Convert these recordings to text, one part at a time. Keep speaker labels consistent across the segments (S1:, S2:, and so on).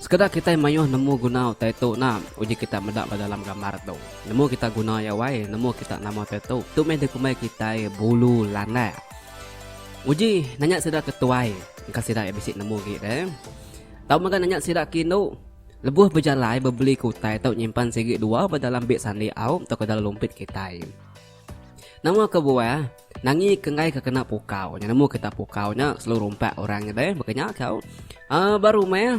S1: Sekeda kitai mayuh nemu guna utai tu nah uji kita meda ba dalam gambar tu. Nemu kita guna iya wai nemu kita nama utai tu. Tu meh dikumbai kitai bulu landak. Uji nanya sida ke tuai engka sida iya bisi nemu agi deh. Tau mega nanya sida ke indu. Lebuh bejalai bebeli ke utai tau nyimpan sigi dua ba dalam beg sandi au tauka dalam lumpit kitai. Nama ke buah nangi ke enggai ke kena pukau nya nemu kita pukau nya selalu rumpak orang nya deh baka nya kau uh, ba rumah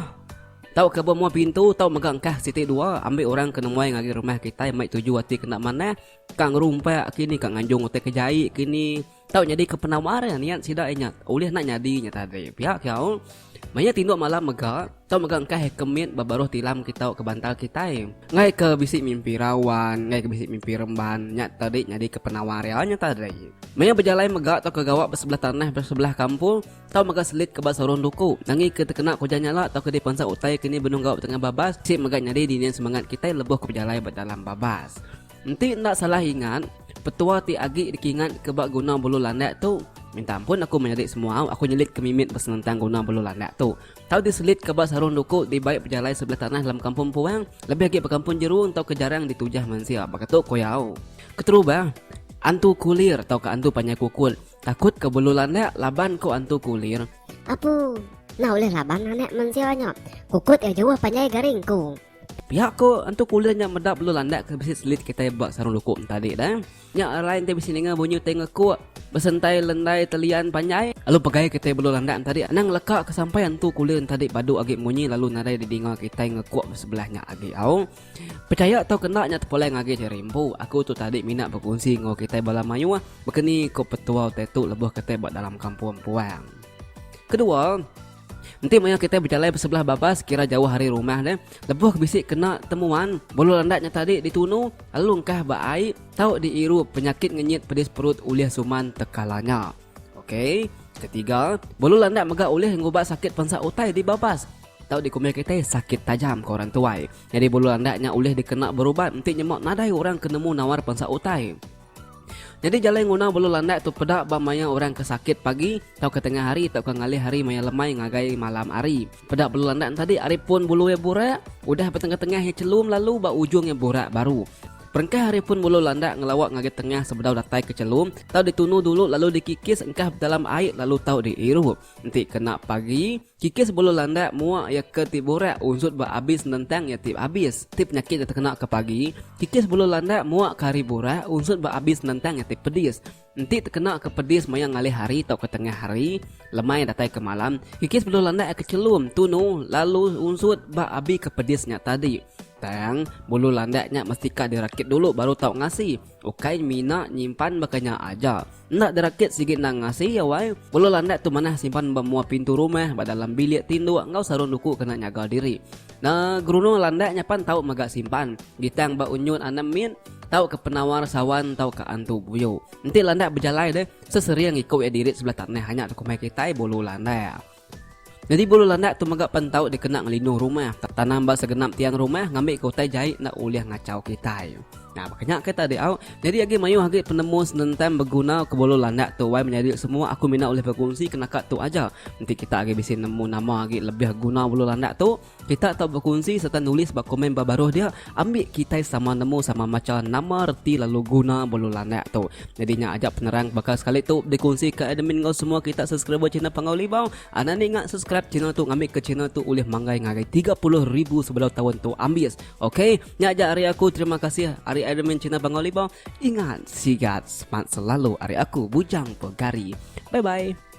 S1: tau ke bemua pintu tau mega engkah siti dua ambil orang ke nemuai ngagi rumah kitai mai tuju ati kena manah kang rumpak kini kang nganjung utai ke jai kini Tau nyadika penawar iya niat sida inya ulih enda nyadi nya tadi. Pia ke au, maya tinduk malam mega, tau mega engkah iya ke mit ba baruh tilam kita ke bantal kitai. Enggai ke bisi mimpi rawan, enggai ke bisi mimpi remban, nya tadi nyadika penawar iya nya tadi. Maya bejalai mega tauka gawa ba sebelah tanah ba sebelah kampung, tau mega selit ke ba sorong duku. Nangi ke tekena kujan nya la tauka dipansa utai ke ni benung gawa betengah babas, sik mega nyadi dini semangat kitai lebuh ke bejalai ba dalam babas. Enti enda salah ingat, petua ti agi dikingatka ba guna bulu landak tu, minta ampun aku menyadi semua, aku nyelitka mimit besenentang guna bulu landak tu. Tau diselitka ba sarung duku di bai pejalai sebelah tanah dalam kampung Puang, lebih agi ba kampung Jeru enggau ke jarang ditujah mensia baka tu ku iya. Keterubah, Antu Kulir tauka Antu Panjai Kukut takutka bulu landak laban ku Antu Kulir. Apu,
S2: enda ulih laban anak mensia nya. Kukut iya jauh panjai garing ku. Pia ko
S1: entu kulir nya meda belu landak ke bisi selit kitai ba sarung luku entadi da. Nya arai enti bisi ninga bunyi utai ngekuk, besentai lendai telian panjai. Lalu pegai kitai belu landak entadi anang ngeleka ke sampai entu kulir entadi badu agi munyi lalu nadai didinga kitai ngekuk ba sebelah nya agi au. Pechaya tau kena nya tepulai ngagai Seri Empu, aku tu tadi mina bekunsi enggau kitai bala mayuh, bekeni ko petua utai tu lebuh kitai ba dalam kampung empuang. Kedua, Enti maya kita bejalai besebelah baba sekira jauh hari rumah ne, lebuh bisi kena temuan, bulu landak nya tadi ditunu, alungkah ba ai, tau diiru penyakit ngenyit pedis perut ulih suman tekala nya. Okey, ketiga, bulu landak mega ulih ngubah sakit pensa utai di babas, tau dikumbai kitai sakit tajam ke orang tuai. Nyadi bulu landak nya ulih dikena berubat enti nyema nadai orang ke nemu nawar pensa utai. Nyadi jalai nguna bulu landak tu peda ba maya orang ke sakit pagi tauka tengah hari tauka ngalih hari maya lemai ngagai malam hari. Peda bulu landak entadi ari pun bulu iya burak, udah betengah-tengah iya chelum lalu ba ujung iya burak baru. Perengkah ari pun bulu landak ngelawa ngagai tengah sebedau datai ke chelum tau ditunu dulu lalu dikikis engkah bedalam ai lalu tau diirup. Enti kena pagi, Kikis bulu landak mua iya ke ti burak unsut ba abis nentang iya ti abis. Ti penyakit iya tekena ke pagi, kikis bulu landak mua ke hari burak unsut ba abis nentang iya ti pedis. Enti tekena ke pedis maya ngalih hari tauka tengah hari, lemai datai ke malam, kikis bulu landak iya ke chelum, tunu, lalu unsut ba abi ke pedis nya tadi. Tang, bulu landak nya mesti ka dirakit dulu baru tau ngasi. Ukai mina nyimpan baka nya aja. Enda derakit sigi endang ngasi iya wai. Belu landak tu manah simpan ba mua pintu rumah, ba dalam bilik tinduk enggau sarung duku kena nyaga diri. Na gerunung landak nya pan tau mega simpan. Gitang ba unyut anak mit, tauka penawar sawan tauka antu buyu. Enti landak bejalai deh, sesering iku iya dirit sebelah tanah nya tu kumbai kitai bulu landak. Nyadi bulu landak tu mega pen tau dikena ngelinuh rumah, tanam ba segenap tiang rumah ngambika utai jai enda ulih ngachau kitai. Nah, baka nya ke tadi au, nyadi agi mayuh agi penemu senentang begunaka bulu landak tu wai menyadi semua aku mina ulih bekunsi ke naka tu aja. Enti kita agi bisi nemu nama agi lebih guna bulu landak tu, Kita tau bekunsi sereta nulis ba komen ba baruh dia ambi kitai sama nemu sama macha nama reti lalu guna belu landak tu. Nyadi nya aja penerang baka sekali tu dikunsi ke admin enggau semua kita subscriber channel Panggau Libau. Anak andi ngak subscribe channel tu ngambi ke channel tu ulih manggai ngagai tiga puluh ribu sebedau taun tu ambis. Ok nya aja ari aku terima kasih ari admin channel Panggau Libau. Ingat sigat smart selalu ari aku Bujang Pegari. Bye bye.